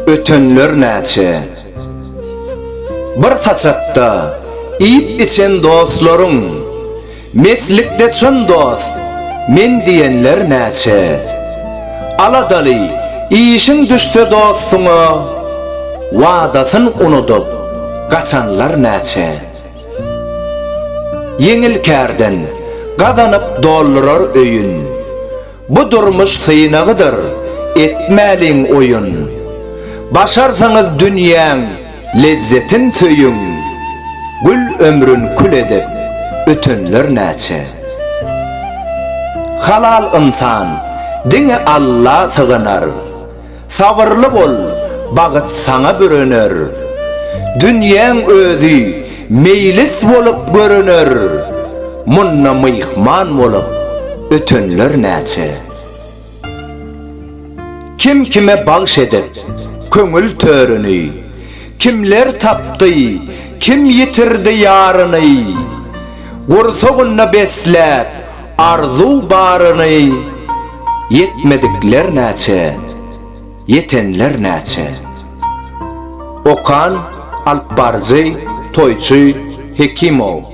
Ötenler näçe? Bir saçakda iýip-içen dostlaryň. Meslikde çyn dost, men diýenler näçe. Aladaly, işiň düşse dostuňa, Wadasyn unudyp, gaçanlar näçe. Ýeňil kärden, gazanyp doldurar öýün. Bu durmuş synagydyr, etmäliň oýun. Başarsaňyz dünýäň lezzetin söýüň. Gül ömrün kül edip, ötenler näçe. Halal ynsan, diňe Alla sygynar. Sabyrly bol, bagyt saňa bürener. Dünýäň özi meýlis bolup görener. Munda myhman bolup ötenler näçe. Kim kime bagş edip köňül törüni. Kimler tapdy, kim ýitirdi ýaryny. Gursagynda besläp Arzuw baryny ýetmedikler näçe, ýetenler näçe. Okan, alypbaryjy, toýçy, Hekimow.